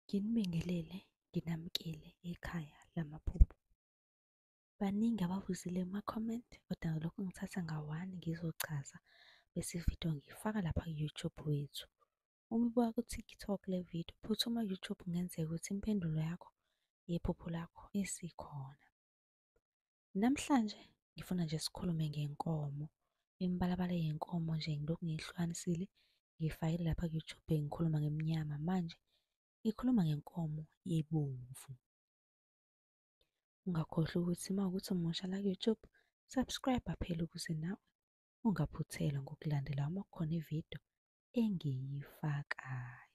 Nginibingelele, nginamukele ekhaya lamaphupho. Baningi abavuzile kuma-comment kodwa lokhu ngithatha ngawani ngizochaza bese ividiyo ngiyifaka lapha ku-YouTube wethu. Uma ibuka ku-TikTok le vidiyo, phuthuma ku-YouTube kungenzeka ukuthi impendulo yakho yephupho lakho isikhona. Namhlanje ngifuna nje sikhulume ngenkomo, imibalabala yenkomo nje ngilokhu ngiyihlukanisile ngiyifakile lapha ku-YouTube ngikhuluma ngemnyama manje ngikhuluma ngenkomo yebomvu. Ungakhohlwa ukuthi uma ukuthi umusha la ku-YouTube subscribe phela ukuze nawe ungaphuthelwa ngokulandela uma kukhona ividiyo engiyifakayo.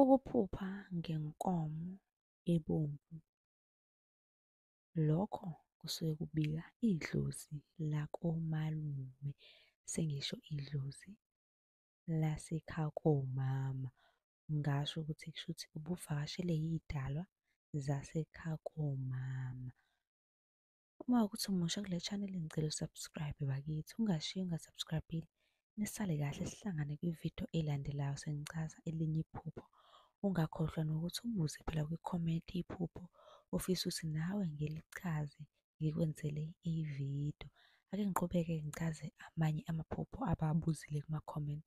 Ukuphupha ngenkomo ebomvu. Lokho kusuke kubika idlozi lakomalume sengisho idlozi lasekhaya komama. Ngasho ukuthi kushuthi ubuvakashele iy'dalwa zasekhaya komama. Uma ukuthi umusha kule channel ngicela usubscribe bakithi, ungashiyi ungasubscribile. Nisale kahle sihlangane kwividiyo elandelayo sengichaza elinye iphupho. Ungakhohlwa nokuthi ubuze phela kwi-comment iphupho ofisa ukuthi nawe ngilichaze ngikwenzele ividiyo. Ake ngiqhubeke ngichaze amanye amaphupho ababuzile kuma-comment.